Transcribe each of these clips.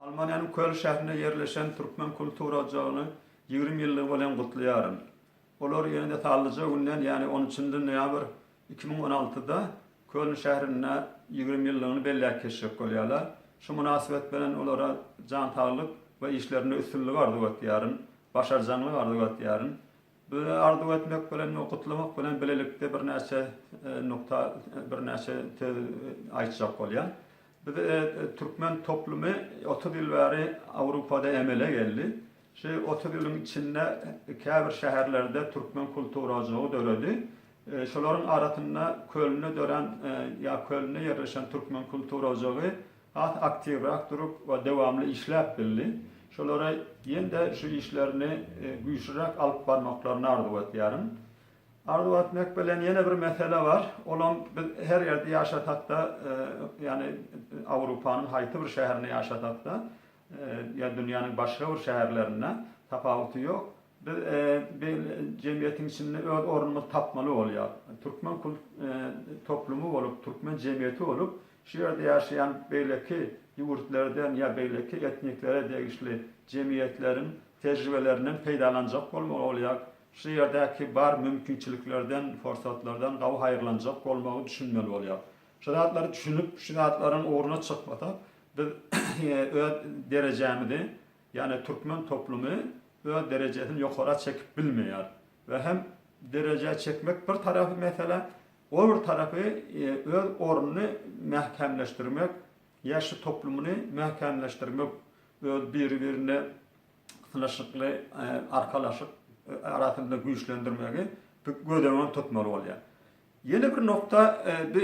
Almaniýanyň Köln şährinde ýerleşen Türkmen kultura ojagyny ýigrimi ýyllygy bilen gutlaýaryn. Olar ýene-de sallyja günden, ýagny on üçünji noýabr iki müň on altyda Köln şährinde ýigrimi ýyllygyny belläp geçjek bolýarlar. Şu mynasybet bilen olara jan saglyk we işlerinde üstünlik arzuw etýärin, başarjaňlyk arzuw etýärin. Beren arzuw etmek bilen we gutlamak bilen bilelikde birnäçe nukda birnäçe söz aýtjak bolýan. Biz türkmen toplumy otuz ýyl bäri Awrupada emele geldi. Şu otuz ýylyň içinde käbir şäherlerde türkmen kultura ojagy döredi. Şolaryň arasynda Kölnde dörän ýa Kölnde ýerleşen türkmen kultura ojagy has aktiwrak durup we dowamly işläp bildi. Şolara ýene-de şu işlerini güýçlüräk alyp barmaklaryny arzuw etýärin. Arzuw etmek bilen ýene bir mesele bar, olam biz her ýerde ýaşasak-da, ýagny Awrupanyň haýsy bir şäherinde ýaşasak-da, ýa dünýäniň başga bir şäherlerinde, tapawuty ýok, biz jemgyýetiň içinde öz ornumyzy tapmaly bolýar. Türkmen toplumy bolup, türkmen jemgyýeti bolup, Şu ýerde ýaşaýan beýleki ýurtlardan ýa beýleki etniklere degişli jemgyýetleriň tejribelerinden peýdalanjak bolmagy bolýar, şu ýerdäki bar mümkinçiliklerden, forsatlardan gawy haýyrlanjak bolmagy düşünmeli bolýar. Şu zatlary düşünip, şu zatlaryň ugruna çykmasak, biz öz derejämizi, ýagny türkmen toplumy öz derejesini ýokara çekip bilmeýär. we hem derejä çekmek bir tarapy mesele, o bir tarapy öz ornuny mäkämleşdirmek, ýaşy toplumyny mäkämleşdirmek, öz biri-birine synyşykly arkalaşyk arasynda güýçlendirmegi göz öňünde tutmaly bolýar. Ýene bir nokta bi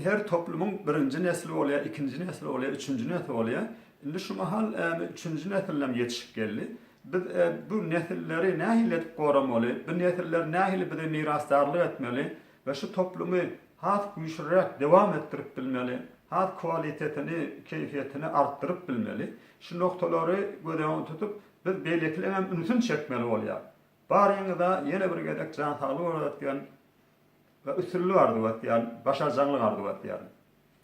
her toplumyň birinji nesli bolýar, ikinji nesli bolýar, üçünji nesli bolýar. Indi şu mahal üçünji nesilinem ýetişip geldi. Biz bu nesilleri nähili edip goramaly, bu nesiller nähili bize mirasdarlyk etmeli we şu toplumy has güýçliräk dewam etdirip bilmeli, has kwalitetini, keýfiýetini artdyryp bilmeli. Şu noktalary göz öňünde tutup, biz beýlekileňem ünsüni çekmeli bolýar. Baryňyza ýene bir gezek jan saglygy arzuw etýän we üstünlik arzuw etýän, başarjaňlyk arzuw etýän.